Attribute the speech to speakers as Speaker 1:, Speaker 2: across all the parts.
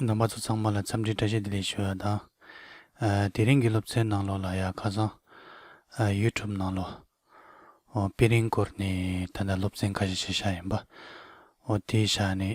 Speaker 1: ནང་པ་ཚོ་ཚང་མ་ལ་འཚམས་འདྲིའི་བཀྲ་ཤིས་བདེ་ལེགས་ཞུ་བ་དང། དེ་རིང་གི་སློབ་ཚན་ནང་ལོགས་ལ་ཡང་ཁ་སང། YouTube ནང་ལོགས། དཔེ་རིང་སྐོར་ནས་ད་ལྟ་སློབ་ཚན་ཁ་ཤས་བྱེད་ཤག་ཡིན་པ། དེའི་ཤག་ནས།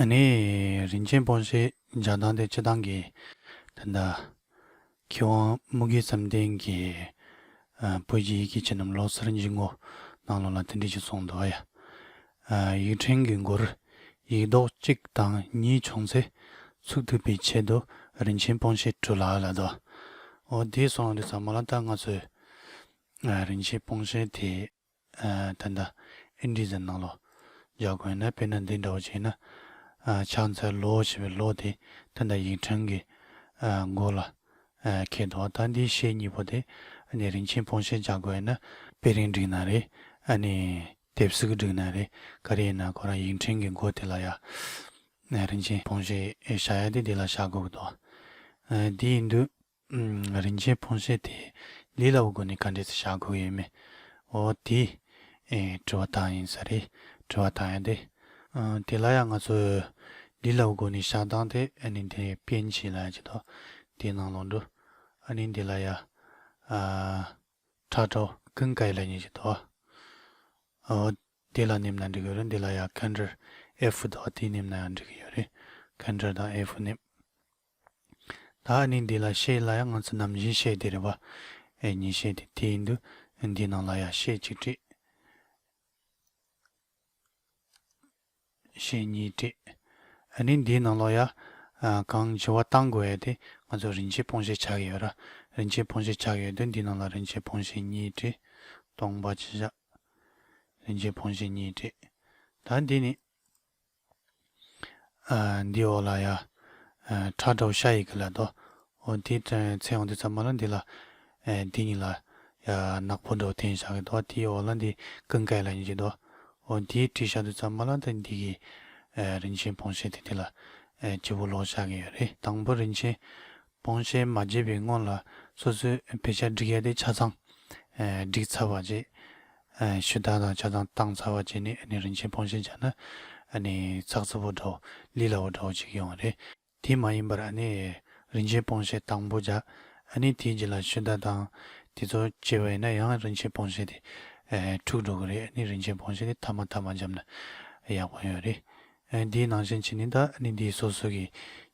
Speaker 1: ཨ་ནི། རིན་ཆེན་སྤོང་བྱེད་ལྗགས་མདངས་དེ་ཅི་དང་གིས། ད་ལྟ། ཁྱེད་དབང་སྨུག་གི་བསམ་གཏན་གྱི། སྤོས་ཀྱི་ཡི་གེ་ཁྱེད་རྣམས་ལོག་སར་འཇིག་ངོ། སྣང་ལོག་ལ་དེ་འདྲས་ཅིག་སོང་འདུག་ཨ་ཡ། ཡིག་ཕྲེང་གི་མགོར། ཡིག་རྡོག་གཅིག་དང་གཉིས་བྱུང་ཚེ། ཚུགས་ཐུབ་པའི་ཆེད་དུ་རིན་ཆེན་སྤོང་བྱེད་བྲུ་ལག་ལ་དོ། འོ་དེས་སོང་རེད་ཟ་མ་ལ་ད་ང་ཚོས། རིན་ཆེན་སྤོང་བྱེད་དེ། ད་ལྟ་ཨིན་དྲི་ཟའི་ནང་ལོ་འཇའ་དགོན་ནས་དཔེར་ན་འདི་འདྲ་བོ་བྱས་ན། ཕྱག་འཚལ་ལོ་ཞེས་པའི་ལོ་དེ་ད་ལྟ་ཡིག་ཕྲེང་གི་མགོ་ལ་འཁེལ་འདུག་ད་འདིའི་གཞས་གཉིས་པོ་དེ་ནི་རིན་ཆེན་སྤུངས་ཤེལ་འཇའ་དགོན་ནས་དཔེ་རིང་བསྒྲིགས་ན་རེད་ཨ་ནི་དེབ་གཟུགས་བསྒྲིགས་ན་རེད་ག་རེ་ཡིན་ན་ཁོ་རང་ཡིག་ཕྲེང་གི་མགོ་དེ་ལ་ཡ་རིན་ཆེན་སྤུངས་ཤེལ་བཞག་ཡ་དེ་དེ་ལ་བཞག་དགོས་ཀྱི་འདུག་འདི་ཡིན་དུས། རིན་ཆེན་ཕོན་སྲས་དེས་ལི་ལ་བུ་དགོན་ནས་ག་འདྲའི་ཚེ་བཞག་དགོས་ཡོད་མེད། འོ་དེ། དྲི་བ་དག་ཡིན་ས་རེད། དྲི་བ་དག་ཡིན་ཏེ། དེ་ལ་ཡང་ང་ཚོས། ལི་ལ་བུ་དགོན་ནས་བཞག་སྟངས་དེ་ཨ་ནི་དེ་སྤེན་ཆེད་ལ་ཡང་བྱེད་དོ། དེ་ནང་ལོག་འགྲོ། ཨ་ནི་དེ་ལ་ཡ། ཁྲག་དྲོ། ཀུན་དགའི་ལ་ཉེ་བྱེད་དོ། འོ། དེ་ལ་ནེམ་ན་འགྲིག་གི་རེད་འདི་ལ་ཡ་ཁན་དྲིར་ཨེ་ཧྥུ་དོ་དེ་ནེམ་ན་ཡང་འགྲིག་གི་ཡོད་རེད། ཁན་དྲིར་དང་ཨེ་ཧྥུ་ནེམ། ད་ནི་འདི་ལ་ཤེས་སླ་ཡང་ང་ཚོ་ནམ་བཞིན་ཤེས་དེ་རེད་བ། ཨེ་ཉི་ཤེས་དེ་དེ་ཡིན་དུས་འདིའི་ནང་ལ་ཡ་ཤེས་གཅིག་བྲིས། ཤེས་གཉིས་བྲིས། ཨ་ནི་འདིའི་ནང་ལོ་ཡ། གང་བྱི་བ་བཏང་དགོས་ཡ་དེ་ང་ཚོ་རིན་ཆེན་སྤོང་ཤེས་ཆགས་ཀྱི་ཡོད་ར། རིན་ཆེན་སྤོང་ཤེས་ཆགས་ཀྱི་ཡོད་དུས་འདིའི་ནང་ལ་རིན་ཆེན་སྤོང་ཤེས་གཉིས་བྲིས། སྟོང་པ་ཇི་བཞག། རིན་ཆེན་སྤོང་ཤེས་གཉིས་བྲིས། ད་འདི་ནི། འདིའི་འོག་ལ་ཡ། ཁྲག་འདྲ་བོ་ཤ་ཡི་གེ་ལ་དོ། འོ་དེའི་མཚན་འོག་འདི་ཙམ་མ་ལ་འདི་ལ། འདི་གཉིས་ལ། ཡ། ནག་པོ་འདྲ་བོ་དེ་ཡིན་ཤག་གི་དོ། དེའི་འོག་ལ་འདི་ཀུན་དགའི་ལ་ཡིན་གྱི་དོ། འོ་དེའི་དྲི་ཤ་འདི་ཙམ་མ་ལ་འདི་འདི་གི། རིན་ཆེན་བོང་ཤེད་དེ་དེ་ལ། སྤྱི་བོ་ལོག་ཤག་གི་ཡོད་རེད། དང་པོ་རིན་ཆེན། སྤོང་བྱེད་མ་བརྗེད་པའི་སྔོན་ལ་སོ་སོའི་བེ་ཆ་སྒྲིག་ཡ་དེ་ཆ་ཚང་སྒྲིག་ཚར་བ་རྗེས་ཞུ་དག་དང་ཆ་ཚང་བཏང་ཚར་བ་རྗེས་ནས་ནི་རིན་ཆེན་སྤོང་བྱེད་བྱ་ན་ནི་ཚགས་ཚུད་པོ་འདྲ་བོ་ལི་ལ་བོ་འདྲ་བོ་ཅིག་ཡོང་བ་རེད། དེ་མ་ཡིན་པར་ནི་རིན་ཆེན་སྤོང་བྱེད་དང་པོ་བྱ་ནི་དེའི་རྗེས་ལ་ཞུ་དག་དང་དེ་ཚོ་བྱེད་པ་ཡིན་ན་ཡང་རིན་ཆེན་སྤོང་བྱེད་དེ་འཁྲུགས་འགྲོ་གི་རེད་ནི་རིན་ཆེན་སྤོང་བྱེད་དེ་མཐའ་མ་མཐའ་མ་འཇམ་ན་ཡག་པོ་ཡོད་རེད། འདིའི་ནང་བཞིན་བྱས་ནས་ད་ནི་འདིའི་སོ་སོ་གི་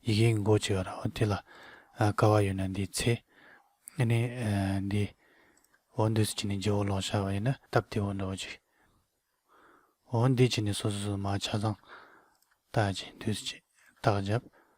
Speaker 1: ཡི་གེའི་མགོ་ཅིག་ར་བ་དེ་ལ་ཀ་བ་ཡོད་ན་འདིའི་ཚེ་ནི་འདི་འོ་འདི་སུ་བྱས་ནས་རྗེ་བོ་ལོག་ཤར་བ་ཡིན་ན་སྟབས་དེ་འོ་འདྲ་བོ་ཅིག་འོ་འདི་བྱས་ནས་སོ་སོ་སོ་མ་ཆ་ཚང་རྟགས་ཀྱི་འདུས་སུ་བྱས་རྟགས་བརྒྱབ་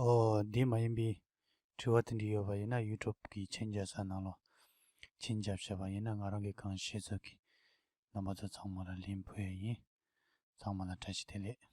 Speaker 1: ཨོ། འདི་མ་ཡིན་པའི། དྲི་བ་དེ་འདྲ་ཡོད་པ་ཡིན་ན་ཡུལ་གྲུབ་ཀྱིས་མཆན་རྒྱབ་ས་ནང་ལོགས། མཆན་རྒྱབ་བྱས་པ་ཡིན་ན་ང་རང་གི་གང་ཤེས་ཚོད་ཀྱིས། རྣམ་པ་ཚོ་ཚང་མ་ལ་ལན་ཕུལ་ཡས་ཡིན། ཚང་མ་ལ་བཀྲ་ཤིས་བདེ་ལེགས།